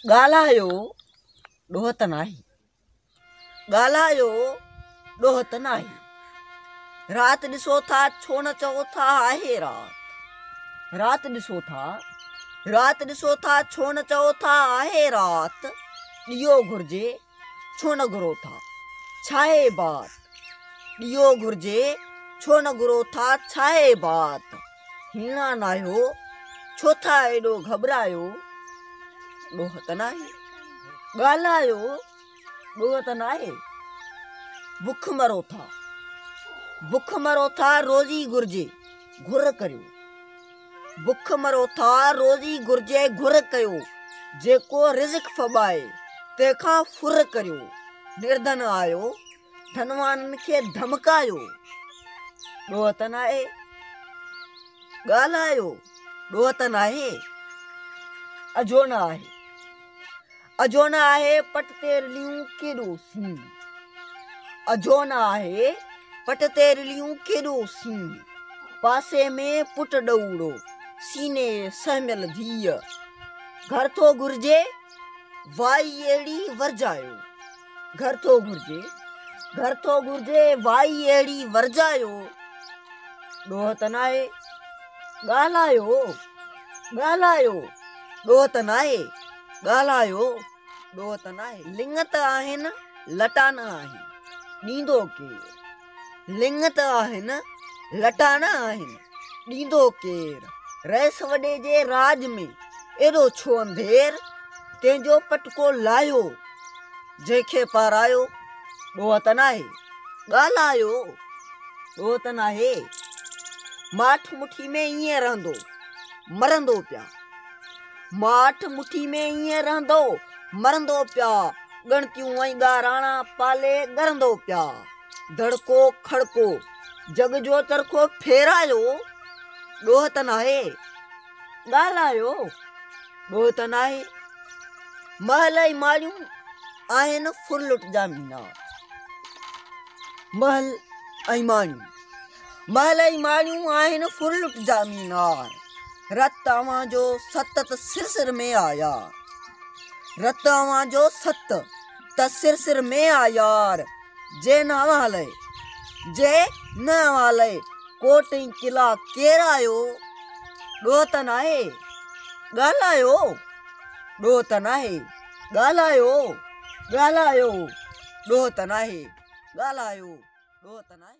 ڳالهايو ڏوهه ته ناهي ڳالهايو ڏوهه ته ناهي رات ڏسو ٿا ڇو نه چئو ٿا آهي رات رات ڏسو ٿا رات ڏسو ٿا ڇو نه چئو ٿا آهي رات ڏيئو گهرجي ڇو نه گهرو ٿا ڇاهي بات ڏيئو گهرجي ڇو نه گهرو ٿا ڇاهي بات هيڻا ناهيو ڇو ٿا ايڏو گهٻرايو ڏوهه ته ناهي ڳالهايو ڏوهه ته ناهي بک مرو ٿا بک مرو ٿا روزي گهرجي گهر ڪريو بک مرو ٿا روزي گهرجي گهر ڪيو جيڪو رزق ڦٻائي تنهن کان ڦر ڪريو نردن آيو ڌنوانن کي ڌمڪايو ڏوهه ته ناهي ڳالهايو ڏوهه ته ناهي اجهو نه آهي اجهو نه آهي پٽ تي رليون ڪيڏو سين اجهو نه آهي پٽ تي رليون ڪيڏو سين پاسي ۾ پٽ ڏئوڙو سيني سهميل ڌيء گهر ٿو گهرجي وائي اهڙي ورجايو. گهر ٿو گهرجي گهر ٿو گهرجي وائي اهڙي ورجايو ڏوهه ته ناهي ڳالهايو ڳالهايو ڏوهه ته ناهي ڳالهايو ڏوهه ته ناهي لڱ ته آهن لٽا نه آهن ڏيندو ڪير لڱ ته آهن، لٽا نه آهن، ڏيندو ڪير؟ رئيس وڏي جي راڄ ۾ ايڏو ڇو انڌير؟ تنهن جو پٽڪو لاهيو، جنهن کي پارايو، ڏوهه ته ناهي؟ ڳالهايو، ڏوهه ته ناهي؟ ماٺ مٺي ۾ ائين رهندو، مرندو پيا. ماٺ مٺي ۾ ائين رهندو، مرندو پيا. ڳڻتيون ۽ ڳاراڻا پالي ڳرندو پيا. دڙڪو کڙڪو، جڳ جو چرخو ڦيرايو، ڏوهه ته ناهي، ڳالهايو، ڏوهه ته ناهي، محل ۽ ماڙيون آهن ڦرلٽ جا مينا. محل ۽ ماڙيون، محل ۽ ماڙيون آهن ڦرلٽ جا مينار، رت اوهان جو ست ته سر سر ۾ آيا، رت اوهان جو ست. ته سر سر ۾ آ يار، جي نه اوهالئي، جي نه اوهالئي، ڪوٽ ۽ قلعا ڪير آيو، ڏوهه ته ناهي، ڳالهايو، ڏوهه ته ناهي، ڳالهايو، ڳالهايو، ڏوهه ته ناهي، ڳالهايو، ڏوهه ته ناهي.